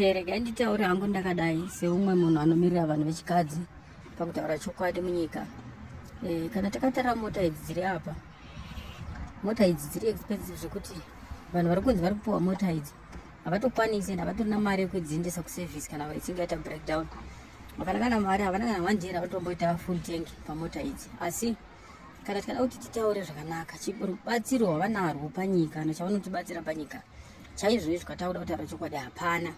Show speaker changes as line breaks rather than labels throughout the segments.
Okay, regai nditaure hangu ndakadai seumwe munhu anomirira vanhu vechikadzi pakutaura chokwadi munyika e, kana takatarira mota idzi dziri apa mota idzi dziri expensive zvekuti vanhu vari kunzi vari kupiwa mota idzi havatokwanisi and havatorina mari yekudziendesa kuservice kana vachinge yaita breakdown vakana kana mari havana kana one day ravatomboita full tank pamota idzi asi ah, kana tikada kuti titaure zvakanaka rubatsiro hwavanarwo panyika kana chavanotibatsira panyika chaizvoizvo katakuda kutaura chokwadi hapana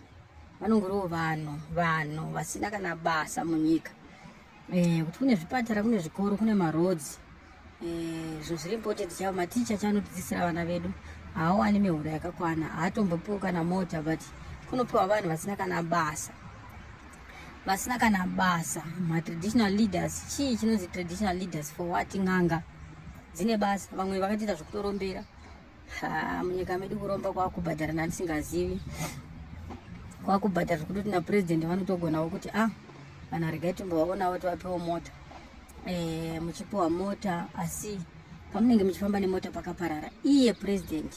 vanongoriwo vanhu vanhu vasina kana basa munyika eh, kuti kune zvipatara kune zvikoro kune marodzi eh, zvinhu zviri important chavo maticha chanotidzisira vana vedu haawani mihoro yakakwana haatombopiwo kana mota but kunopiwa vanhu vasina kana basa vasina kana basa matraditional leaders chii chinonzi traditional leaders for what n'anga dzine basa vamwe vakatiita zvekutorombera munyika medu kuromba kwakubhadhara nandisingazivi kwakubhadhara zvekutoti napurezidendi vanotogonawo kuti a ah, vanhu regai timbovaonawo tivapewo mota e, muchipiwa mota asi pamunenge muchifamba nemota pakaparara iye purezidendi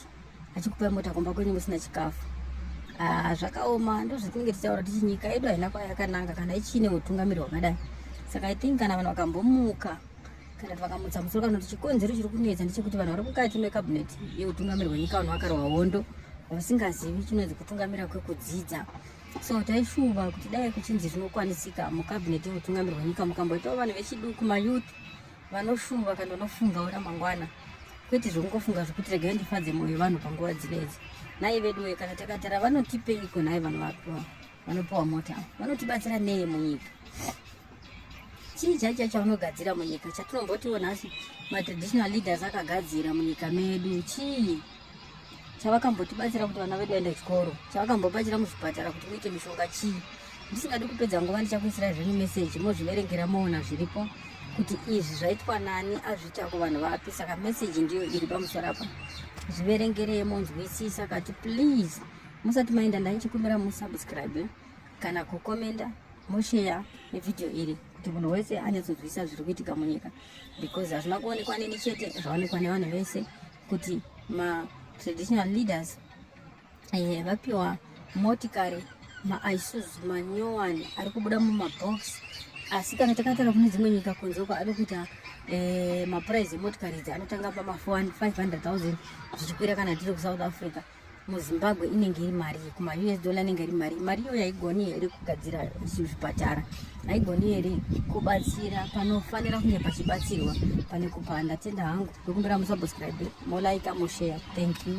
achikupai mota kumba kwenyu musina chikafu ah, zvakaoma ndozvetinenge tichaura tichi nyika yedu haina kwayakananga kana ichiine utungamiri hwakadai saka i think kana vanhu vakambomuka kana kuti vakamutsa musoro kana kuti chikonzero chiri kunetsa ndechekuti vanhu vari mukati mekabineti yeutungamiri hwenyika vanhu vakarwa hondo vasingazivi chinonzi kutungamira kwekudzidza so taishuva kuti dai kuchinzi zvinokwanisika mukabineti yeutungamiri hwenyika mukamboitawo vanhu vechiduku mayouth vanoshumba kana vanofungawo ramangwana kwete zvokungofunga zvokuti regai ndifadze mwoyo vanhu panguva dzinedzi nai veduwe kana takatara vanotipeiko nai vanhu vapiwa vanopiwa mota vanotibatsira nei munyika chii chaicha chaunogadzira munyika chatinombotiwo nhasi matraditional leaders akagadzira munyika medu chii chavakambotibatsira kuti vana vedu vaenda chikoro chavakambobatsira muzvipatara kuti muite mishonga chii ndisingadi kupedza nguva ndichakuisira zvenyu meseji mozviverengera moona zviripo kuti izvi zvaitwa nani azviita kuvanhu vapi saka meseji ndiyo iri pamusoro apa zviverengerei monzwisisa kati please musati maenda ndaichikumbira musubscribe kana kukomenda mosheya nevhidhiyo iri kuti munhu wese anyatsonzwisisa zviri kuitika munyika because hazvina kuonekwa neni chete zvaonekwa nevanhu vese kuti ma traditional leaders eh, vapiwa motikari maisuzu manyowani ari kubuda mumabox asi kana takatara kune dzimwe nyika kunze uko ave kuita eh, mapuraizi emotikari idzi anotanga pama 500000 zvichikwira kana tiri kusouth africa muzimbabwe inenge iri mari kuma us dollar inenge iri mari mari iyo yaigoni here kugadzira zvipatara haigoni here kubatsira panofanira kunge pachibatsirwa pane kupanda tenda hangu ndokumbira musubscribe molaika moshare thank you